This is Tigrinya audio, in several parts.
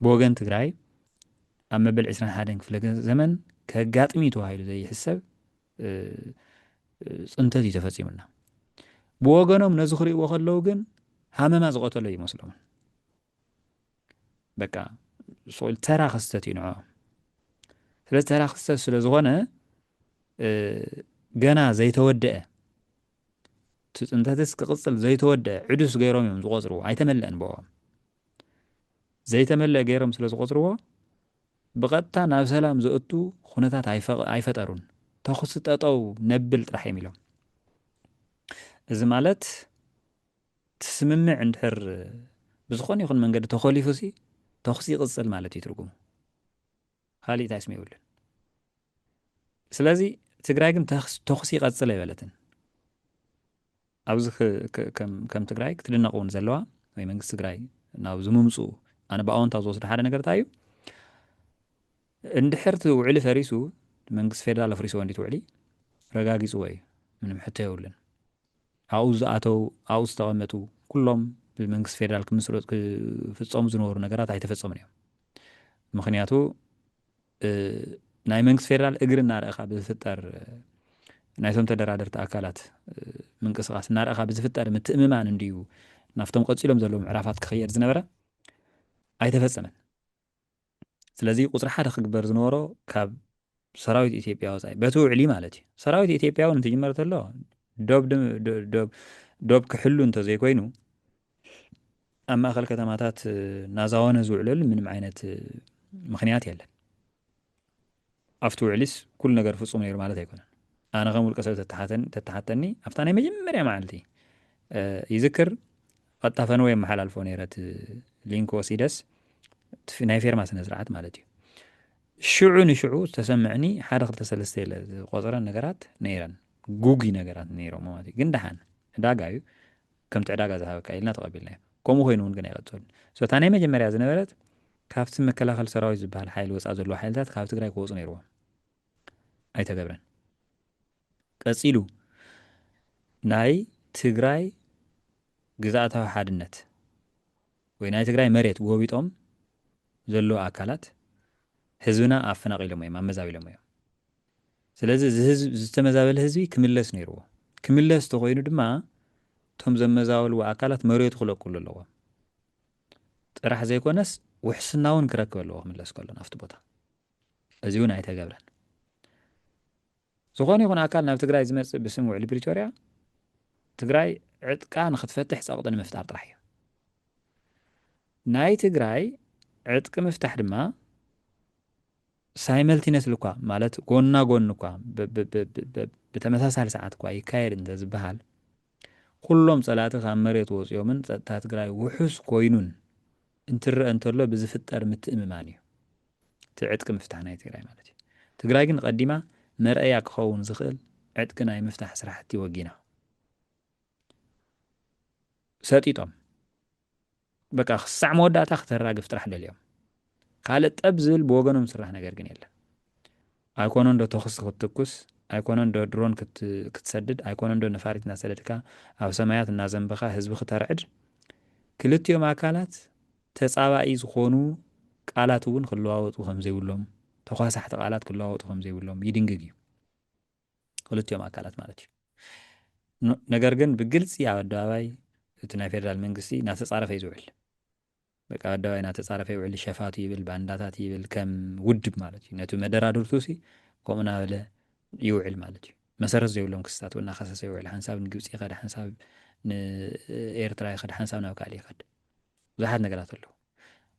ብወገን ትግራይ ኣብ መበል ዕስራን ሓደን ክፍለ ዘመን ከጋጥም እዩ ተባሂሉ ዘይሕሰብ ፅንተት እዩ ተፈፂሙና። ብወገኖም ነዚ ክርእይዎ ከለዉ ግን ሃመማ ዝቐተሎ ይመስሎምን በቃ ስቁል ተራ ክስተት እዩ ንዕኦም። ስለዚ ተራ ክስተት ስለ ዝኾነ ገና ዘይተወደአ እቲ ፅንተትስ ክቕፅል ዘይተወደአ ዕዱስ ገይሮም እዮም ዝቆፅርዎ ኣይተመለአን ብኦም ዘይተመልእ ገይሮም ስለ ዝቖጽርዎ፣ ብቐጥታ ናብ ሰላም ዘእቱ ኹነታት ኣይፈጠሩን። ተኹሲ ጠጠው ነብል ጥራሕ እዮም ኢሎም። እዚ ማለት እቲ ስምምዕ እንድሕር ብዝኾነ ይኹን መንገዲ ተኾሊፉሲ ተኹሲ ይቕጽል ማለት እዩ ትርጉሙ። ካሊእ እንታይ ስም የብሉን ስለዚ ትግራይ ግን ተኹሲ ይቐፅል ኣይበለትን ኣብዚ ከም ትግራይ ክትድነቕ እውን ዘለዋ ወይ መንግስቲ ትግራይ ናብ ዝምምፅኡ ኣነ ብኣወንታ ዝወስዶ ሓደ ነገር እንታይ እዩ እንድሕር እቲ ውዕሊ ፈሪሱ መንግስቲ ፌደራል ኣፍሪስዎ እንዲት ውዕሊ ረጋጊፅዎ እዩ ምንም ሕቶ የብሉን ኣብኡ ዝኣተው ኣብኡ ዝተቐመጡ ኩሎም ብመንግስቲ ፌደራል ክምስረጡ ክፍፀሙ ዝነበሩ ነገራት ኣይተፈፀሙን እዮም ምኽንያቱ ናይ መንግስቲ ፌደራል እግሪ እናረእኻ ብዝፍጠር ናይቶም ተደራደርቲ ኣካላት ምንቅስቃስ እናረእኻ ብዝፍጠር ምትእምማን እንድዩ ናብቶም ቀፂሎም ዘለዉ ምዕራፋት ክኸየድ ዝነበረ ኣይተፈፀመን ስለዚ ቁፅሪ ሓደ ክግበር ዝነበሮ ካብ ሰራዊት ኢትዮጵያ ወፃኢ በቲ ውዕሊ ማለት እዩ ሰራዊት ኢትዮጵያ እውን እንትጅመር ተሎ ዶብ ክሕሉ እንተዘይኮይኑ ኣብ ማእኸል ከተማታት ናዛወነ ዝውዕለሉ ምንም ዓይነት ምክንያት የለን ኣብቲ ውዕሊስ ኩሉ ነገር ፍፁም ነይሩ ማለት ኣይኮነን ኣነ ከም ውልቀ ሰብ ተተሓተኒ ኣብታ ናይ መጀመርያ መዓልቲ ይዝክር ቀጥታ ፈንወ የመሓላልፎ ነይረት ሊንክ ወሲደስ ናይ ፌርማ ስነ ስርዓት ማለት እዩ ሽዑ ንሽዑ ዝተሰምዕኒ ሓደ ክልተ ሰለስተ ኢለ ዝቆጽረን ነገራት ነይረን ጉጉይ ነገራት ነይሮሞ ማለት እዩ ግን ደሓን ዕዳጋ እዩ ከምቲ ዕዳጋ ዝሃበካ ኢልና ተቐቢልናዮ ከምኡ ኮይኑ እውን ግን ኣይቐጸሉን so እታ ናይ መጀመርያ ዝነበረት ካብቲ መከላኸሊ ሰራዊት ዝበሃል ሓይሊ ወጻኢ ዘለዉ ሓይልታት ካብ ትግራይ ክወጹ ነይርዎም ኣይተገብረን ቀጺሉ ናይ ትግራይ ግዝኣታዊ ሓድነት ወይ ናይ ትግራይ መሬት ጎቢጦም ዘለዉ ኣካላት ህዝብና ኣፈናቒሎሞ እዮም፣ ኣመዛቢሎሞ እዮም። ስለዚ እዚ ህዝቢ እዚ ዝተመዛበለ ህዝቢ ክምለስ ነይርዎ። ክምለስ እንተኾይኑ ድማ እቶም ዘመዛበልዎ ኣካላት መሬቱ ክለቅሉ ኣለዎም ጥራሕ ዘይኮነስ ውሕስና እውን ክረክብ ኣለዎ ክምለስ ከሎ ናብቲ ቦታ። እዚ እውን ኣይተገብረን። ዝኾነ ይኹን ኣካል ናብ ትግራይ ዝመፅእ ብስም ውዕሊ ፕሪቶርያ ትግራይ ዕጥቃ ንክትፈትሕ ፀቕጢ ንምፍጣር ጥራሕ እዩ። ናይ ትግራይ ዕጥቂ ምፍታሕ ድማ ሳይመልቲነትሊ እኳ ማለት ጎና ጎኒ እኳ ብተመሳሳሊ ሰዓት እኳ ይካየድ እንተዝበሃል ኩሎም ፀላእቲ ካብ መሬት ወፂኦምን ፀጥታ ትግራይ ውሑስ ኮይኑን እንትረአ እንተሎ ብዝፍጠር ምትእምማን እዩ። እቲ ዕጥቂ ምፍታሕ ናይ ትግራይ ማለት እዩ። ትግራይ ግን ቐዲማ መርኣያ ክኸውን ዝኽእል ዕጥቂ ናይ ምፍታሕ ስራሕቲ ወጊና። ሰጢጦም በቃ ክሳዕ መወዳእታ ክተራግፍ ጥራሕ ደልዮም። ካልእ ጠብ ዝብል ብወገኖም ዝስራሕ ነገር ግን የለን። ኣይኮነን ዶ ተኹሲ ክትትኩስ ኣይኮነን ዶ ድሮን ክትሰድድ ኣይኮነን ዶ ነፋሪት እናሰደድካ ኣብ ሰማያት እናዘንበኻ ህዝቢ ክተርዕድ ክልቲኦም ኣካላት ተጻባኢ ዝኾኑ ቃላት እውን ክለዋወጡ ከምዘይብሎም፣ ተኳሳሕቲ ቃላት ክለዋወጡ ከምዘይብሎም ይድንግግ እዩ። ክልቲኦም ኣካላት ማለት እዩ። ን ነገር ግን ብግልጺ ኣብ ኣደባባይ እቲ ናይ ፌደራል መንግስቲ እናተጻረፈ እዩ ዝውዕል። በቃ ኣብ ኣደባባይ እናተጻረፈ ይውዕል፣ ሸፋቱ ይብል፣ ባንዳታት ይብል፣ ከም ውድብ ማለት እዩ። ነቲ መደራድርቱሲ ከምኡ እናበለ ይውዕል ማለት እዩ። መሰረት ዘይብሎም ክስታት እውን እናኸሰሰ ይውዕል። ሓንሳብ ንግብጺ ይኸድ፣ ሓንሳብ ንኤርትራ ይኸድ፣ ሓንሳብ ናብ ካልእ ይኸድ። ብዙሓት ነገራት ኣለዉ።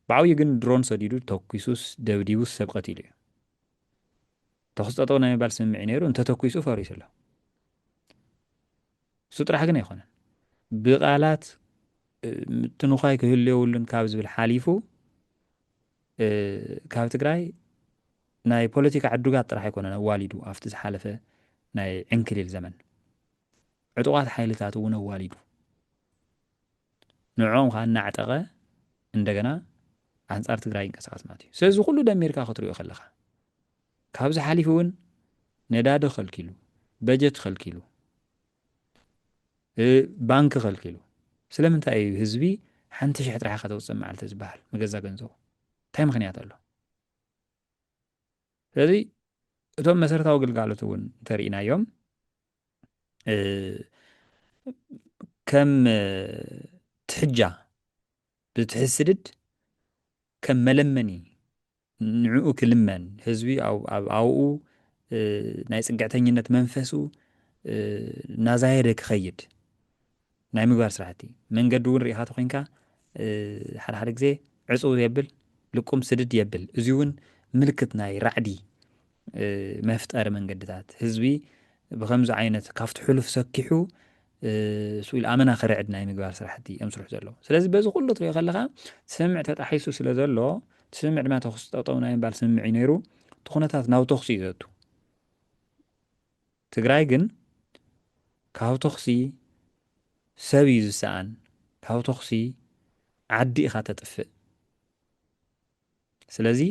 ብዓብዩ ግን ድሮን ሰዲዱ ተኲሱስ ደብዲቡስ ሰብ ቀቲሉ እዩ። ተኹሲ ጠጠው ናይ ምባል ስምምዒ ነይሩ፣ እንተተኲሱ ፈሪሱ ኣሎ። እሱ ጥራሕ ግን ኣይኮነን። ብቓላት ምትንዃይ ክህሉ የብሉን ካብ ዝብል ሓሊፉ ካብ ትግራይ ናይ ፖለቲካ ዕዱጋት ጥራሕ ኣይኮነን ኣዋሊዱ ኣብቲ ዝሓለፈ ናይ ዕንክሊል ዘመን ዕጡቓት ሓይልታት እውን ኣዋሊዱ ንዕኦም ከኣ እናዕጠቐ እንደገና ኣንጻር ትግራይ ይንቀሳቐስ ማለት እዩ። ስለዚ ኩሉ ደሚርካ ክትሪኦ ከለኻ ካብዚ ሓሊፉ እውን ነዳዲ ከልኪሉ፣ በጀት ከልኪሉ፣ ባንኪ ከልኪሉ ስለምንታይ እዩ ህዝቢ ሓንቲ ሽሕ ጥራሕ ከተውፅእ መዓልቲ ዝበሃል መገዛ ገንዘቡ እንታይ ምክንያት ኣሎ? ስለዚ እቶም መሰረታዊ ግልጋሎት እውን እንተርኢናዮም ከም ትሕጃ ብትሕስድድ ከም መለመኒ ንዕኡ ክልመን ህዝቢ ኣብኡ ናይ ፅግዕተኝነት መንፈሱ እናዛየደ ክኸይድ ናይ ምግባር ስራሕቲ መንገዲ እውን ርኢኻ ተኾይንካ ሓደ ሓደ ግዜ ዕፅው የብል ልቁም ስድድ የብል እዙይ እውን ምልክት ናይ ራዕዲ መፍጠሪ መንገድታት ህዝቢ ብከምዚ ዓይነት ካብቲ ሕሉፍ ሰኪሑ ስኢል ኣመና ክርዕድ ናይ ምግባር ስራሕቲ እዮም ስርሑ ዘለዉ ስለዚ በዚ ኩሉ ትሪኦ ከለካ ስምምዕ ተጣሒሱ ስለ ዘሎ እቲ ስምምዕ ድማ ተኩሲ ጠጠው ናይ ምባል ስምምዕ እዩ ነይሩ እቲ ኩነታት ናብ ተኩሲ እዩ ዘቱ ትግራይ ግን ካብ ተኹሲ ሰብ እዩ ዝሰኣን ካብ ተኹሲ ዓዲ ኢኻ ተጥፍእ ስለዚ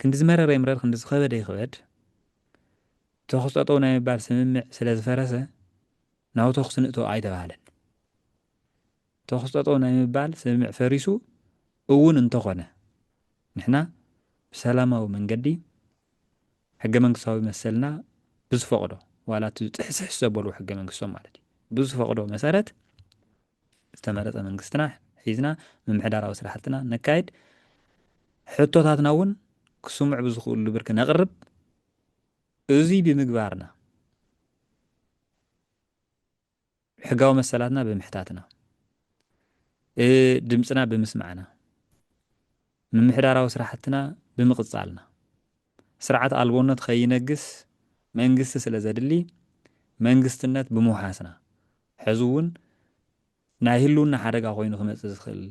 ክንዲ ዝመረረ ይምረር ክንዲ ዝኸበደ ይኽበድ ተኹስ ጠጠው ናይ ምባል ስምምዕ ስለዝፈረሰ ናብ ተኹሲ ንእቶ ኣይተባህለን ተኹስ ጠጠው ናይ ምባል ስምምዕ ፈሪሱ እውን እንተኾነ ንሕና ብሰላማዊ መንገዲ ሕገ መንግስታዊ መሰልና ብዝፈቕዶ ዋላ እቲ ጥሕስሕስ ዘበልዎ ሕገ መንግስቶም ማለት እዩ ብዝፈቕዶ መሰረት ዝተመረፀ መንግስትና ሒዝና ምምሕዳራዊ ስራሕትና ነካይድ ሕቶታትና እውን ክስምዑ ብዝኽእሉ ብርኪ ነቕርብ እዙይ ብምግባርና ሕጋዊ መሰላትና ብምሕታትና፣ ድምጽና ብምስማዕና፣ ምምሕዳራዊ ስራሕትና ብምቕጻልና፣ ስርዓት ኣልቦነት ኸይነግስ መንግስቲ ስለ ዘድሊ መንግስትነት ብምውሓስና፣ ሕዚ እውን ናይ ህልውና ሓደጋ ኮይኑ ክመጽእ ዝኽእል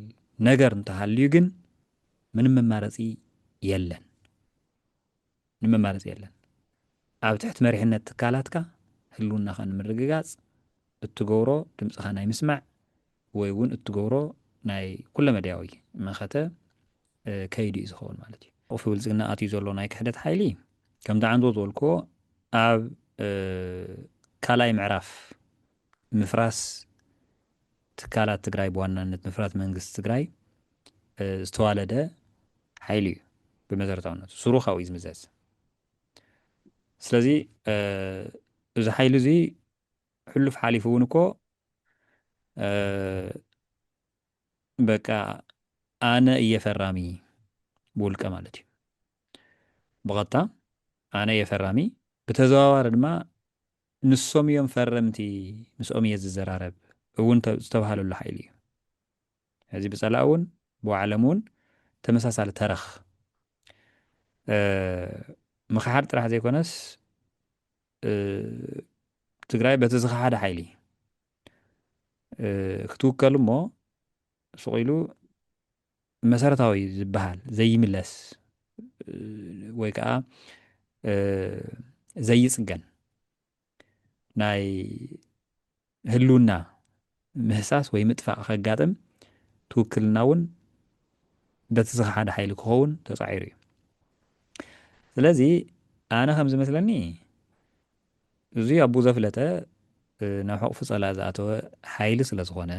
ነገር እንተሃልዩ ግን ምንም መማረጺ የለን። ንመማረፂ የለን። ኣብ ትሕቲ መሪሕነት ትካላትካ ህልውናኻ ንምርግጋፅ እትገብሮ ድምፅኻ ናይ ምስማዕ ወይ እውን እትገብሮ ናይ ኩለመዳያዊ መኸተ ከይዲ እዩ ዝኸውን ማለት እዩ። ቁልፊ ብልፅግና ኣትዩ ዘሎ ናይ ክሕደት ሓይሊ ከምቲ ዓንዶ ዝበልክዎ ኣብ ካልኣይ ምዕራፍ ምፍራስ ትካላት ትግራይ ብዋናነት ምፍራስ መንግስቲ ትግራይ ዝተዋለደ ሓይሊ እዩ ብመሰረታውነቱ ሱሩ ካብኡ እዩ ዝምዘዝ ስለዚ እዚ ሓይሊ እዚ ሕሉፍ ሓሊፉ እውን እኮ በቃ ኣነ እየ ፈራሚ ብውልቀ ማለት እዩ ብቐጥታ ኣነ እየ ፈራሚ ብተዘዋዋሪ ድማ ንሶም እዮም ፈረምቲ ምስኦም እየ ዝዘራረብ እውን ዝተብሃለሉ ሓይሊ እዩ። ሕዚ ብፀላኢ እውን ብባዕሎም እውን ተመሳሳሊ ተረኽ ምኽሓድ ጥራሕ ዘይኮነስ ትግራይ በቲ ዝኸሓደ ሓይሊ ክትውከል እሞ ሱቕ ኢሉ መሰረታዊ ዝበሃል ዘይምለስ ወይ ከዓ ዘይፅገን ናይ ህልውና ምህሳስ ወይ ምጥፋእ ከጋጥም ትውክልና እውን በቲ ዝኸሓደ ሓይሊ ክኸውን ተፃዒሩ እዩ ስለዚ ኣነ ከም ዝመስለኒ እዚ ኣቡ ዘፍለጠ ናብ ሕቑፊ ፀላእ ዝኣተወ ሓይሊ ስለ ዝኾነ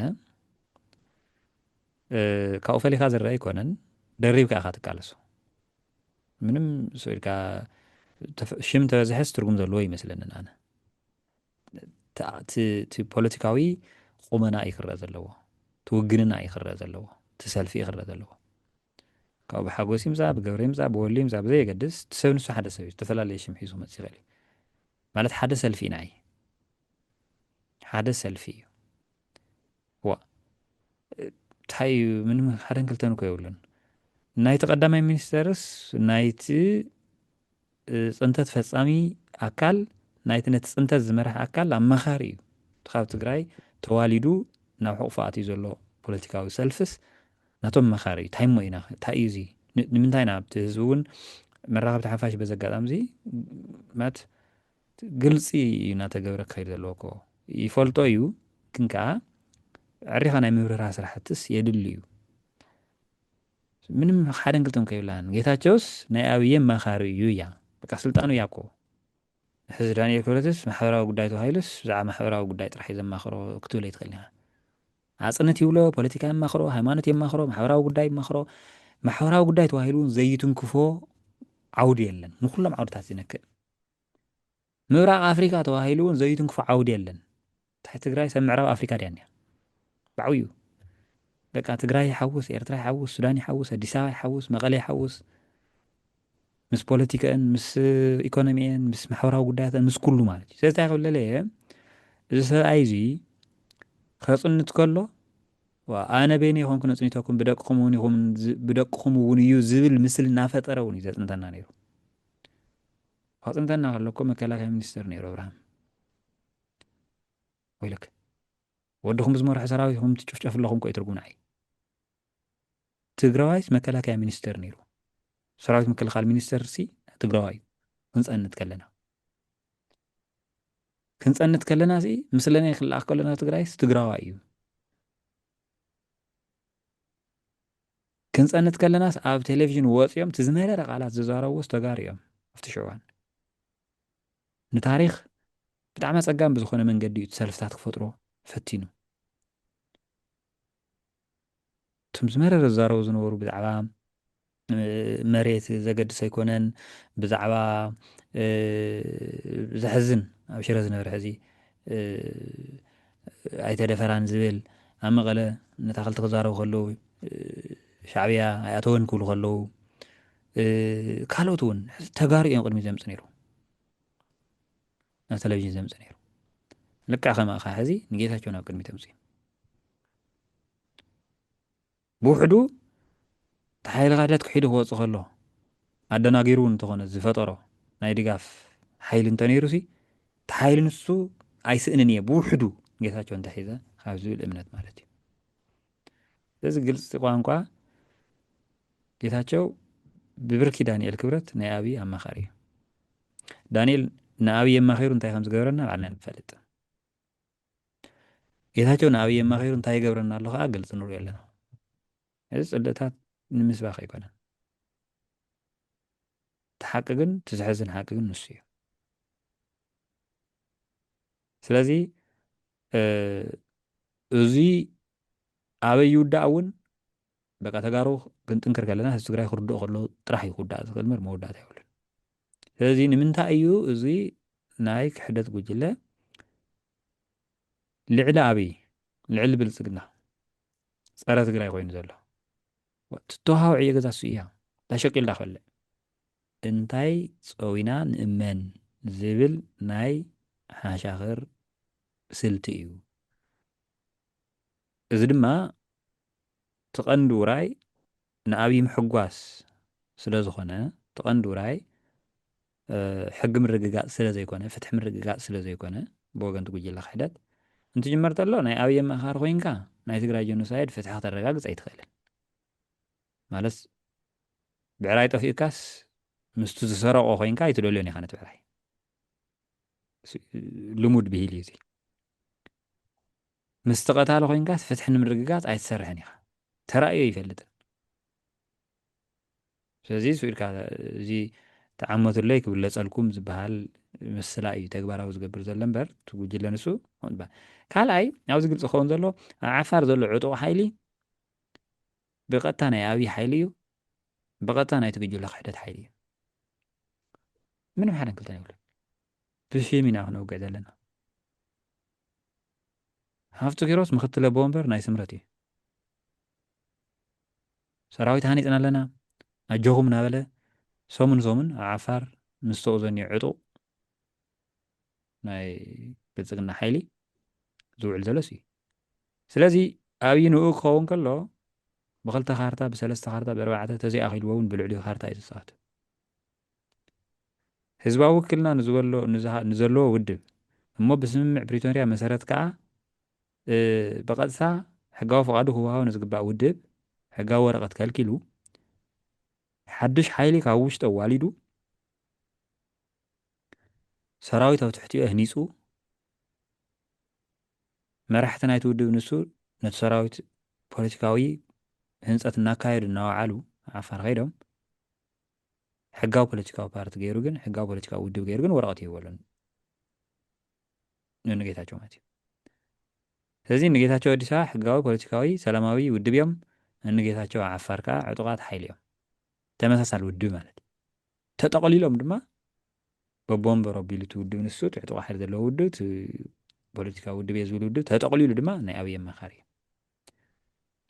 ካብኡ ፈሊኻ ዝረኣ ኣይኮነን ደሪብካ ኢኻ ትቃለሶ ምንም ስኢልካ ሽም ተበዝሐስ ትርጉም ዘለዎ ይመስለንን ኣነ እቲ ፖለቲካዊ ቁመና እዩ ክረአ ዘለዎ እቲ ውግንና እዩ ክረአ ዘለዎ እቲ ሰልፊ እዩ ክረአ ዘለዎ ካብኡ ብሓጎስ ይምፃ ብገብረ ይምፃ ብወሉ ይምፃ ብዘየገድስ እቲ ሰብ ንሱ ሓደ ሰብ እዩ ዝተፈላለየ ሽም ሒዙ መፅ ይኽእል እዩ ማለት ሓደ ሰልፊ ኢና እዩ ሓደ ሰልፊ እዩ ዋእ ታይ እዩ ምንም ሓደን ክልተን እኮ የብሉን ናይቲ ቀዳማይ ሚኒስተርስ ናይቲ ፅንተት ፈፃሚ ኣካል ናይቲ ነቲ ፅንተት ዝመርሐ ኣካል ኣማኻሪ እዩ እቲ ካብ ትግራይ ተዋሊዱ ናብ ሕቑፎ ኣትዩ ዘሎ ፖለቲካዊ ሰልፍስ ናቶም መኻሪ እዩ ታይ እሞ ኢና ታይ እዩ እዚ ንምንታይ ኢና ኣብቲ ህዝቢ እውን መራኸብቲ ሓፋሽ በዚ ኣጋጣሚ እዚ ማለት ግልጺ እዩ እናተገብረ ክኸይድ ዘለዎ እኮ ይፈልጦ እዩ ግን ከኣ ዕሪኻ ናይ ምብርህራህ ስራሕትስ የድሊ እዩ ምንም ሓደን ክልተን ከይብላን ጌታቸውስ ናይ ኣብዬ ኣማኻሪ እዩ እያ በቃ ስልጣኑ እያ እኮ ሕዚ ዳንኤል ክብረትስ ማሕበራዊ ጉዳይ ተባሂሉስ ብዛዕባ ማሕበራዊ ጉዳይ ጥራሕ እዩ ዘማኽሮ ክትብል ኣይትኽእል ኢኻ ኣፅንት ይብሎ ፖለቲካ የማኽሮ ሃይማኖት የማኽሮ ማሕበራዊ ጉዳይ ይማኽሮ ማሕበራዊ ጉዳይ ተባሂሉ እውን ዘይትንክፎ ዓውዲ የለን ንኩሎም ዓውድታት ዝነክእ ምብራቅ ኣፍሪካ ተባሂሉ እውን ዘዩትንክፎ ዓውዲ የለን ታይ ትግራይ ሰብ ምዕራብ ኣፍሪካ ድያ እኒኣ ብዓብይኡ በቃ ትግራይ ይሓውስ ኤርትራ ይሓውስ ሱዳን ይሓውስ ኣዲስ ኣበባ ይሓውስ መቐለ ይሓውስ ምስ ፖለቲካን ምስ ኢኮኖሚን ምስ ማሕበራዊ ጉዳያትን ምስ ኩሉ ማለት እዩ ስለዚ ክብለለ እየ እዚ ሰብኣይ እዚ ከፅንት ከሎ ኣነ በይነ ይኮንኩ ነፅኒተኩም ብደቅኹም እውን ይኹም ብደቅኹም እውን እዩ ዝብል ምስሊ እናፈጠረ እውን እዩ ዘፅንተና ነይሩ ኣጽንተና ከሎ እኮ መከላከያ ሚኒስተር ነይሩ ኣብርሃም ወይለክ ወድኹም ብዝመርሖ ሰራዊት ኹም ትጭፍጨፍ ኣለኹም ኮይ ትርጉም ንዓይ ትግራዋይስ መከላከያ ሚኒስተር ነይሩ ሰራዊት ምክልኻል ሚኒስተር ሲ ትግራዋይ ክንፀንት ከለና ክንፀንት ከለና ሲ ምስለና ክልኣኽ ከለና ትግራይስ ትግራዋይ እዩ ክንጸንት ከለናስ ኣብ ቴሌቪዥን ወጽዮም እቲ ዝመረረ ቃላት ዝዛረብዎስ ተጋሩ እዮም ኣብቲ ሽዑ እዋን። ንታሪኽ ብጣዕሚ ኣጸጋሚ ብዝኾነ መንገዲ እዩ እቲ ሰልፍታት ክፈጥሮ ፈቲኑ። እቶም ዝመረረ ዝዛረቡ ዝነበሩ ብዛዕባ መሬት ዘገድስ ኣይኮነን ብዛዕባ ዘሕዝን ኣብ ሽረ ዝነበረ ሕዚ ኣይተ ደፈራን ዝብል ኣብ መቐለ ንታኸልቲ ክዛረቡ ከለዉ ሻዕብያ ኣይኣተወን ክብሉ ከለዉ ካልኦት እውን ተጋሩ እዮም ቅድሚ ዘምፅ ነይሩ ናብ ቴሌቭዥን ዘምፅ ነይሩ ልክዕ ከማእኻ ሕዚ ንጌታቸው ናብ ቅድሚ ተምፅኡ ብውሕዱ እቲ ሓይሊ ክሕደት ክሒዱ ክወጽእ ከሎ ኣደናጊሩ እውን እንተኾነ ዝፈጠሮ ናይ ድጋፍ ሓይሊ እንተነይሩሲ እቲ ሓይሊ ንሱ ኣይስእንን እየ ብውሕዱ ጌታቸው እንተሒዘ ካብ ዝብል እምነት ማለት እዩ። ስለዚ ግልፂ ቋንቋ ጌታቸው ብብርኪ ዳንኤል ክብረት ናይ ኣብይ ኣማኻሪ እዩ። ዳንኤል ንኣብይ ኣማኺሩ እንታይ ከም ዝገበረና ባዕልና ንፈልጥ። ጌታቸው ንኣብይ ኣማኺሩ እንታይ ይገብረና ኣሎ ከዓ ግልፂ ንሪኦ ኣለና። እዚ ፅልእታት ንምስባኽ ኣይኮነን። እቲ ሓቂ ግን እቲ ዘሕዝን ሓቂ ግን ንሱ እዩ። ስለዚ እዚ ኣበይ ይውዳእ እውን በቃ ተጋሩ ክንጥንክር ከለና ህዝቢ ትግራይ ክርድኦ ከለዎ ጥራሕ እዩ ክውዳእ ዝኽእል እምበር መወዳእታ የብሉን። ስለዚ ንምንታይ እዩ እዚ ናይ ክሕደት ጉጅለ ልዕሊ ኣብይ ልዕሊ ብልፅግና ፀረ ትግራይ ኮይኑ ዘሎ ትተዋሃብ ዕዮ ገዛ እሱ እያ ዳሸቂልዳ ክበልዕ እንታይ ፀዊና ንእመን ዝብል ናይ ሓሻኽር ስልቲ እዩ እዚ ድማ ትቐንዲ ውራይ ንኣብይ ምሕጓስ ስለ ዝኾነ እቲ ቀንዲ ውራይ ሕጊ ምርግጋፅ ስለ ዘይኮነ ፍትሒ ምርግጋፅ ስለ ዘይኮነ ብወገን'ቲ ጉጅለ ክሕደት እንትጅመር ተሎ ናይ ኣብይ ኣማኻኻሪ ኮይንካ ናይ ትግራይ ጆኖሳይድ ፍትሒ ክተረጋግፅ ኣይትኽእልን ማለት ብዕራይ ጠፊኡካስ ምስቲ ዝሰረቆ ኮይንካ ኣይትደልዮን ኢኻ ነቲ ብዕራይ ልሙድ ብሂል እዩ እዚ ምስቲ ቀታሊ ኮይንካስ ፍትሒ ንምርግጋጽ ኣይትሰርሕን ኢኻ ተራእዩ ኣይፈልጥን ስለዚ ስኡ ኢልካ እዚ ተዓመቱለይ ክብለጸልኩም ዝበሃል ምስላ እዩ ተግባራዊ ዝገብር ዘሎ እምበር እቲ ጉጅለ ንሱ ካልኣይ ኣብዚ ግልፂ ክኸውን ዘሎ ኣብ ዓፋር ዘሎ ዕጡቕ ሓይሊ ብቐጥታ ናይ ኣብዪ ሓይሊ እዩ ብቐጥታ ናይቲ ጉጅለ ክሕደት ሓይሊ እዩ ምንም ሓደን ክልተን የብሉ ብሽም ኢና ክነውግዕ ዘለና ሃፍቱ ኪሮስ ምክትል ኣቦ ወንበር ናይ ስምረት እዩ ሰራዊት ሃኒፅና ኣለና ኣጆኹም ናበለ ሰሙን ሰሙን ኣብ ዓፋር ምስ ተኡዘኒ ዕጡቕ ናይ ብልፅግና ሓይሊ ዝውዕል ዘሎስ እዩ ስለዚ ኣብይ ንኡ ክኸውን ከሎ ብክልተ ካርታ ብሰለስተ ካርታ ብእርባዕተ ተዘይኣኺልዎውን ብልዕሊኡ ካርታ እዩ ዝፃወት ህዝባዊ ውክልና ንዝበሎ ንዘለዎ ውድብ እሞ ብስምምዕ ፕሪቶርያ መሰረት ከኣ ብቐጥታ ሕጋዊ ፍቓዱ ክወሃቦ ንዝግባእ ውድብ ሕጋዊ ወረቐት ከልኪሉ ሓዱሽ ሓይሊ ካብ ውሽጢ ኣዋሊዱ ሰራዊት ኣብ ትሕቲኡ ኣህኒጹ መራሕቲ ናይቲ ውድብ ንሱ ነቲ ሰራዊት ፖለቲካዊ ህንፀት እናካየዱ እናወዓሉ ዓፋር ከይዶም ሕጋዊ ፖለቲካዊ ፓርቲ ገይሩ ግን ሕጋዊ ፖለቲካዊ ውድብ ገይሩ ግን ወረቐት ይህበሉን ንጌታቸው ማለት እዩ ስለዚ ንጌታቸው ኣዲስ ኣበባ ሕጋዊ ፖለቲካዊ ሰላማዊ ውድብ እዮም ንጌታቸው ዓፋር ከዓ ዕጡቃት ሓይሊ እዮም ተመሳሳሊ ውድብ ማለት እዩ ተጠቕሊሎም ድማ በቦንበር ኣቢሉ እቲ ውድብ ንሱ እቲ ዕጡቃ ሓይሊ ዘለዎ ውድብ እቲ ፖለቲካዊ ውድብ እየ ዝብል ውድብ ተጠቕሊሉ ድማ ናይ ኣብይ ኣማኻሪ እዩ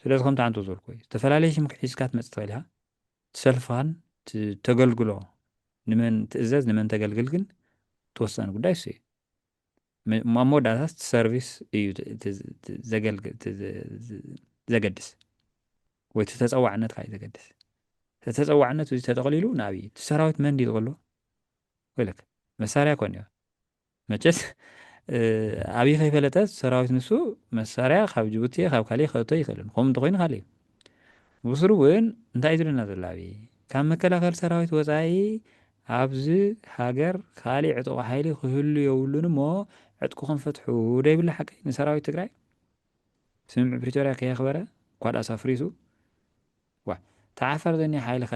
ስለዚ ከምቲ ዓንቶ ዝበልኩ ዝተፈላለዩ ሽም ክሒዝካ ትመፅእ ትኽእል ኢኻ ሰልፋን ተገልግሎ ንመን ትእዘዝ ንመን ተገልግል ግን እቲ ወሳኒ ጉዳይ እሱ እዩ። ኣብ መወዳእታ እቲ ሰርቪስ እዩ ዘገድስ ወይ እቲ ተፀዋዕነትካ እዩ ዘገድስ። እቲ ተፀዋዕነት እዚ ተጠቕሊሉ ንኣብይ እቲ ሰራዊት መን ድዩ ዝበሎ ወይለክ መሳርያ ኮን እዩ መቸስ ኣብይ ከይፈለጠ ሰራዊት ንሱ መሳርያ ካብ ጅቡቲ እየ ካብ ካሊእ ከእቶ ይክእልን ከምኡ እንተኮይኑ ካሊእ ብስሩ እውን እንታይ ዝብለና ዘሎ ኣብይ ካብ መከላከል ሰራዊት ወፃኢ ኣብዚ ሃገር ካሊእ ዕጡቅ ሓይሊ ክህሉ የብሉን እሞ ዕጥቅኹም ፍትሑ ዶ ይብሉ ሓቀይ ንሰራዊት ትግራይ ስምምዕ ፕሪቶሪያ ከየኽበረ እኳ ድኣስ ኣፍሪሱ ዋ ተዓፈር ዘኒ ሓይሊ ከ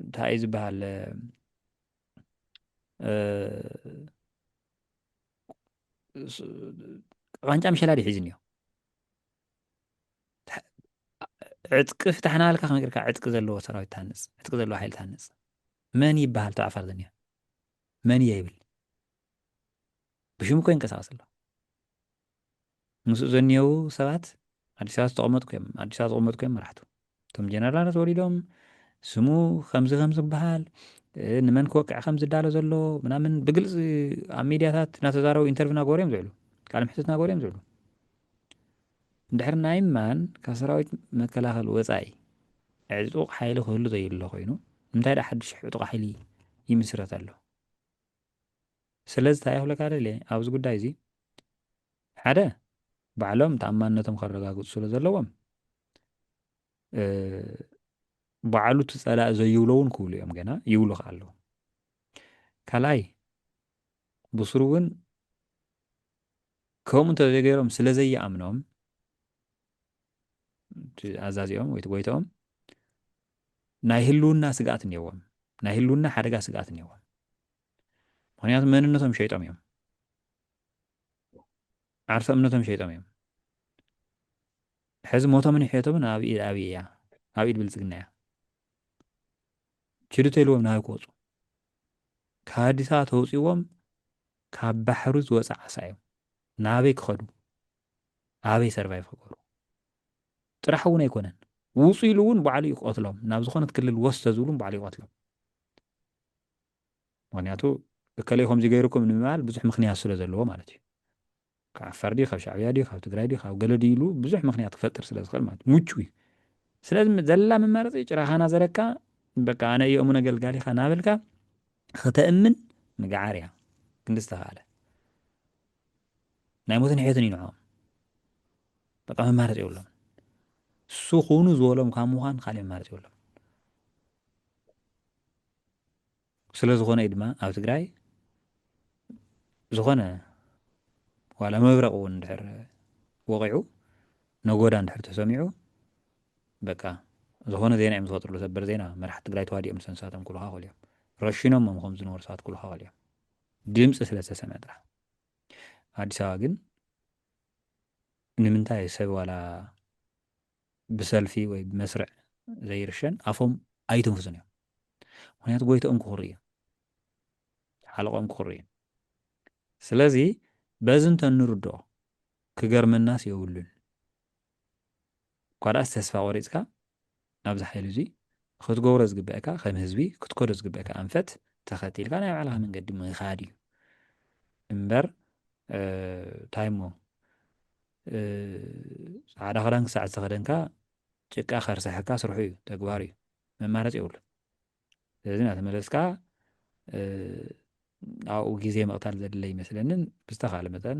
እንታይ እዩ ዝበሃል ዋንጫ ምሸላ ድዩ ሒዙ እኒኦ ዕጥቂ ፍታሕና ልካ ከመይ ዕጥቂ ዘለዎ ሰራዊት ታንፅ ዕጥቂ ዘለዎ ሓይሊ ታንፅ መን ይበሃል እቲ ዓፋር ዝኒኦ መን እየ ይብል ብሽሙ ኮ ይንቀሳቀስ ኣሎ ምስኡ ዘኒሀዉ ሰባት ኣዲስ ኣበባ ዝተቐመጥኩ እዮም ኣዲስ ኣበባ ዝቕመጥኩ እዮም መራሕቱ እቶም ጀነራላት ተወሊዶም ስሙ ከምዚ ከም ዝበሃል ንመን ክወቅዕ ከም ዝዳሎ ዘሎ ምናምን ብግልፂ ኣብ ሚድያታት እናተዛረቡ ኢንተርቪ ናገበሩ እዮም ዝውዕሉ ቃል ምሕትት ናገበሩ እዮም ዝውዕሉ እንድሕር ናይ ማን ካብ ሰራዊት መከላኸል ወፃኢ ዕጡቕ ሓይሊ ክህሉ ዘይሎ ኮይኑ እንታይ ዳ ሓድሽ ዕጡቕ ሓይሊ ይምስረት ኣሎ ስለዚ እንታይ ክብለካ ደልየ ኣብዚ ጉዳይ እዚ ሓደ ባዕሎም ተኣማንነቶም ከረጋግፁ ስለ ዘለዎም ባዕሉ እቲ ፀላእ ዘይብሎ እውን ክብሉ እዮም ገና ይብሉ ከዓ ኣለዉ ካልኣይ ብስሩ እውን ከምኡ እንተዘይገይሮም ስለ ዘይኣምኖም ኣዛዚኦም ወይ ጎይታኦም ናይ ህልውና ስግኣት እኒዎም ናይ ህልውና ሓደጋ ስግኣት እኒዎም ምክንያቱ መንነቶም ሸይጦም እዮም ዓርሰ እምነቶም ሸይጦም እዮም ሕዚ ሞቶምን ሕየቶምን ኣብ ኢድ ኣብይ እያ ኣብ ኢድ ብልፅግና እያ ችዱ ተልዎም ናበይ ክወፁ ካብ ኣዲስ ኣበባ ተውፅዎም ካብ ባሕሩ ዝወፀ ዓሳ እዮም ናበይ ክኸዱ ኣበይ ሰርቫይቭ ክገብሩ ጥራሕ እውን ኣይኮነን ውፁ ኢሉ እውን ባዕሉ ይቆትሎም ናብ ዝኾነት ክልል ወስተ ዝብሉ ባዕሉ ይቆትሎም ምኽንያቱ እከለይ ከምዚ ገይሩኩም ንምባል ብዙሕ ምኽንያት ስለ ዘለዎ ማለት እዩ። ካብ ዓፋር ድዩ ካብ ሻዕብያ ድዩ ካብ ትግራይ ድዩ ካብ ገለ ድዩ ኢሉ ብዙሕ ምኽንያት ክፈጥር ስለ ዝኽእል ማለት ምቹው እዩ። ስለዚ ዘላ መማረፂ ጭራኻ ናዘረካ በቃ ኣነ እየ እሙን ኣገልጋሊኻ እናበልካ ክተእምን ምግዓር እያ ክንዲ ዝተኻእለ ናይ ሞትን ሕየትን እዩ ንዕኦም በቃ መማረፂ የብሎም እሱ ኩኑ ዝበሎም ካብ ምዃን ካልእ መማረፂ የብሎም ስለዝኾነ እዩ ድማ ኣብ ትግራይ ዝኾነ ዋላ መብረቕ እውን እንድሕር ወቒዑ ነጎዳ እንድሕር ተሰሚዑ በቃ ዝኾነ ዜና እዮም ዝፈጥርሉ ሰበር ዜና መራሕቲ ትግራይ ተዋዲኦም ሰንሳቶም ክልኻኸሉ እዮም ረሺኖሞም ከም ዝነበሩ ሰባት ክልኻኸሉ እዮም ድምፂ ስለ ዝተሰምዐ ጥራሕ ኣዲስ ኣበባ ግን ንምንታይ ሰብ ዋላ ብሰልፊ ወይ ብመስርዕ ዘይርሸን ኣፎም ኣይትንፍሱን እዮም ምክንያቱ ጎይቶኦም ክኩሪ እዩ ሓለቆኦም ክኩሪ እዩ ስለዚ በዚ እንተንርድኦ ክገርመናስ የብሉን እኳ ደኣስ ተስፋ ቆሪጽካ ናብዚ ሓይሊ እዙይ ክትገብሮ ዝግበእካ ከም ህዝቢ ክትከዶ ዝግበእካ ኣንፈት ተኸቲልካ ናይ ባዕልኻ መንገዲ ምኻድ እዩ እምበር እንታይ እሞ ጻዕዳ ክዳን ክሳዕ ዝተኸደንካ ጭቃ ከርሰሐካ ስርሑ እዩ ተግባር እዩ መማረፂ የብሉን ስለዚ እናተመለስካ ኣብኡ ግዜ ምቕታል ዘድለ ይመስለንን ብዝተኻለ መጠን